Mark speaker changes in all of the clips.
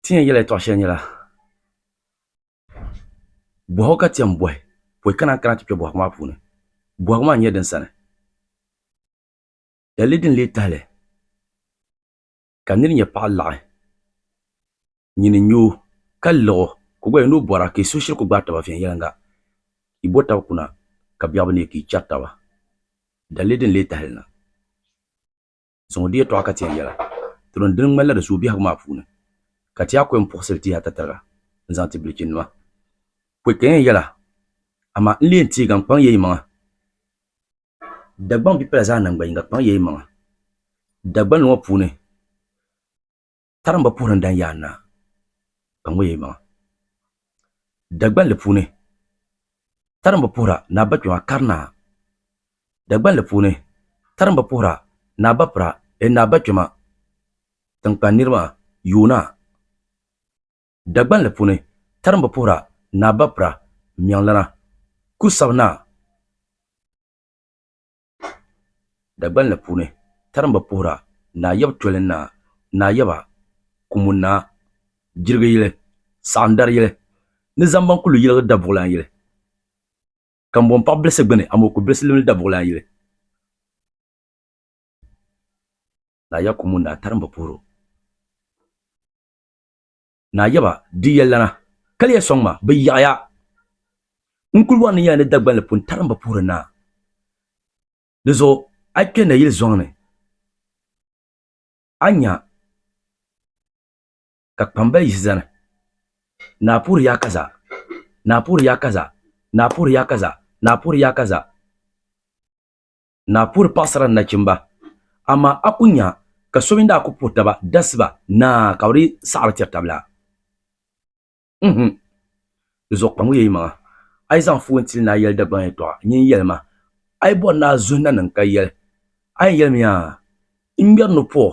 Speaker 1: Ti ni yɛn yɛla yɛtɔɣ shɛli nyɛla, Bɔhigu ka ti yɛn bɔhi pɔi ka naan kana ti kpe bɔhigu maa puuni. Bɔhigu maa n-nyɛ din sani. Lala din lee tahi li ka nir nya paɣ laɣi nyini n-nya o ka liɣ o ka o gba yɛli ni o bɔra ka yi suhu shiri kul gbaai taba viɛnyɛliŋga. Yi bo tab kuna ka biɛɣu bi neei ka yi chɛri taba. Dali din lee tahi li na. zaŋ o di yɛtɔɣa ka tɛri yɛla. Tinim dini ŋmanila di suhu biɛhigu maa puuni ka ti a kɔyim puɣisiri tihi atatariga n-zaŋ ti bilichinima. Pɔi ka yɛn yɛla, amaa n leei teegan kpaŋ ya yimaŋa. Dagbaŋ bipala zaa naŋgbanyiŋga kpaŋ ya yimaŋa. Dagbanli ŋɔ puuni. Tarimba puhiri n dan yaa naa ka ŋɔ yɛ maŋa. Dagbanli puuni tarimba puhira naa ba kpɛma kari naa. Dagbanli puuni tarimba puhira naa ba pira ee naa ba kpɛma tinkpan niri maa yoo naa. Dagbanli puuni tarimba puhira naa ba pira miɛŋlana ku sabi naa. Dagban li puuni, tarimba puhira Naa Yab Toli Naa, Naa Yaba, Kumu Naa, Jirigu yili, Saɣim dari yili, ni Zambaŋ kuli yiligi Dabuɣilan yili. Kambon paɣ bilisi gbini amoo ku bilisi limli Dabuɣilan yili. Naa Yab Kumu Naa tarimba puhiro. Naa yaba di yɛllana, kaliya sɔŋ ma, bɛ yaɣiya. N kul wari ni ya ni Dagbanli pun tarim bi puhiri naa. Di zuɣu a kpe nayili zɔŋ ni, a nya ka kpambali yihi zani, Naa puhiri ya kaza, naa puhiri ya kaza, naa puhiri ya kaza, naa puhiri ya kaza. ni a puhiri paɣisara ni nachimba, amaa a ku nya ka so mini daa ku puhi taba dasi ba naa ka bɛ di saɣiri tiri tab la? N-him! Di zuɣu kpaŋuya yi maŋa, a yi zaŋ fuui n-tili ni a yɛli Dagbaŋ yɛtɔɣa, nyin yɛli ma, a yi bɔri ni a zuhi na niŋ ka yɛli, A yɛn yɛlimiya? N ŋmɛri ni puɣ!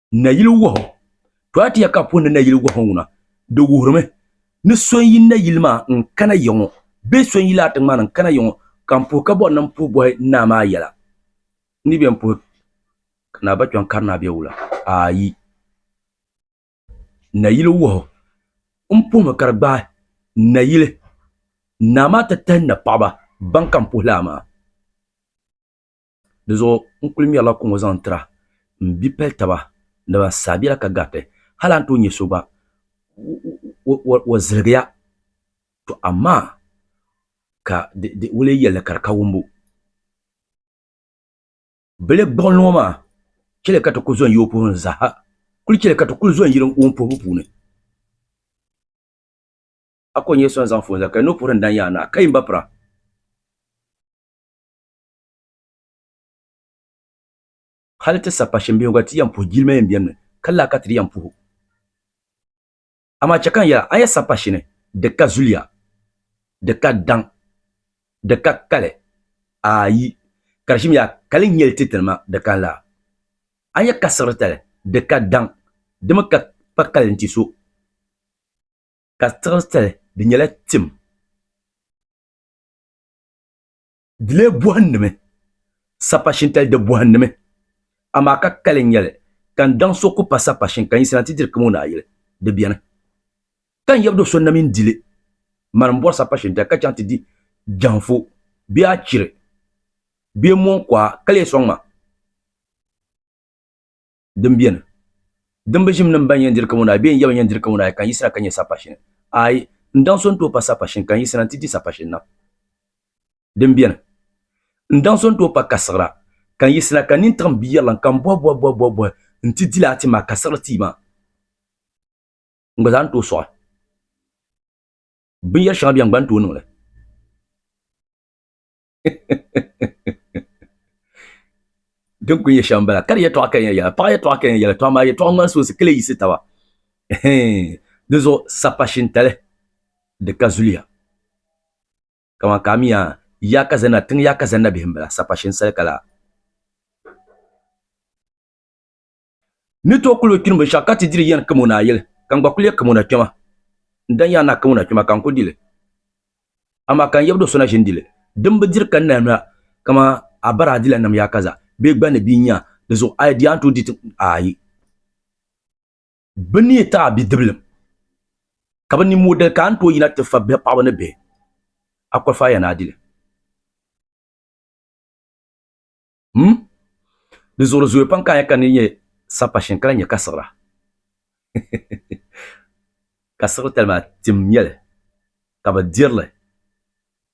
Speaker 1: nayili wahu to a ti ya ka puhi ni nayili wahu ŋuna di wuhirimi ni so n yi nayili maa n kana ya ŋɔ bee so n yi laati ŋmani n kana ya ŋɔ ka n puhi ka bɔri ni n puhi bɔhi naa maa yɛla n ni bɛn puhi ka naa ba kpiɔŋ kari naa bɛ wula ayi nayili wahu n puhimi ka di gbaai nayili naa maa ti tahi napaɣiba ban ka n puhi lala maa Di zuɣu n kuli ŋmɛrila kuŋɔ zaŋ tira m bi pali taba ni ban saai bela ka gariti hali a ni tooi nya so gba o ziligiya tɔ amaa ka di o lee yɛlli ka di ka wumbu bile gbuɣinli ŋɔ maa chɛli ka ti kuli zɔn yi o puhili ni zaaha kuli chɛli ka ti kuli zɔn yi o ni puhibu puuni a ko n nya so ni zaŋ foon zali ka di ni o puhiri ni dan yaai naa ka yi m ba pira. Hali ti sa pa shimbiɛhigu ti yɛn puhi jilima yɛn bɛnimi, ka laa ka ti di yɛn puhi o. Amaa chɛ ka n yɛl a, a yi sa pa shini, di ka zuliya, di ka daŋ, di ka kali, aai, ka di shimya kali nyɛli ti tinima di kan laa. A yi ka siɣiritali, di ka daŋ, di mi ka pa kali nti so, ka siɣiritali di nyɛla tim. Dile buɣinnimi, sapashin tali di buɣinnimi, amaa ka kali n-nyɛli ka n daŋ so ku pa sapashin ka n yiɣisina nti diri kamo naayili, di beni. Ka n yabdo so namin dili mani m-bɔri sapashin tali ka chaŋ ti di jɛhiŋfu bee achiri bee mɔŋkuɣa ka lee sɔŋ ma. din beni, dimbu ʒim ni m-baŋ yɛn diri kamo naai bee n-yɛba yɛn diri kamo naai ka n yiɣisira ka nyɛ sapashini? Aai, n daŋ so n-ti o pa sapashini ka n yiɣisira nti di sapashini na. Din beni, n daŋ so n-ti o pa kasiɣira ka n yiɣisira ka nini tiɣi m biyɛrilim ka m bɔhi bɔhi bɔhi bɔhi bɔhi nti di laa ti maa kasiɣiri tia maa n gba zaa ni tooi sɔɣi binyɛr shɛŋa beni gba n-tooi niŋ li. din ku nyɛ shɛm bala ka di yɛtɔɣa ka yɛn yɛla paɣa yɛtɔɣa ka yɛn yɛla tɔɣa maa yɛtɔɣa ŋmani soonsi ka lee yiɣisi taba di zuɣu sapa shintali di ka zuliya kamani ka a mi yaa yaa ka zanna tiŋ yaa ka zanna bihi n bala sapa shinsali ka laa Ni tooi kuli o kpini binshɛɣu ka ti diri yɛn kam o ni a yɛli, ka n gba kuli yɛn kam o na kpɛma. N dan yɛn na kam o na kpɛma ka n kuli di li. Amaa ka n yɛbdoo so na ʒini di li, din bi diri ka n nahi noya kaman a bara a dila nam yaa kaza bee gbanni bia n-nya di zuɣu, a yi di a ni tooi di ti aayi. Bɛ ni yi ti a bidibilim ka bɛ ni mo dali ka a ni tooi yina ti fa bihi paɣaba ni bihi, a kɔlifaaya ni a di li. hmm di zuɣuri zooya pam ka a nya ka ni nyɛ sapashin ka lahi nyɛ kasiɣira kasiɣiri tali maa tim nyɛli ka bi dirili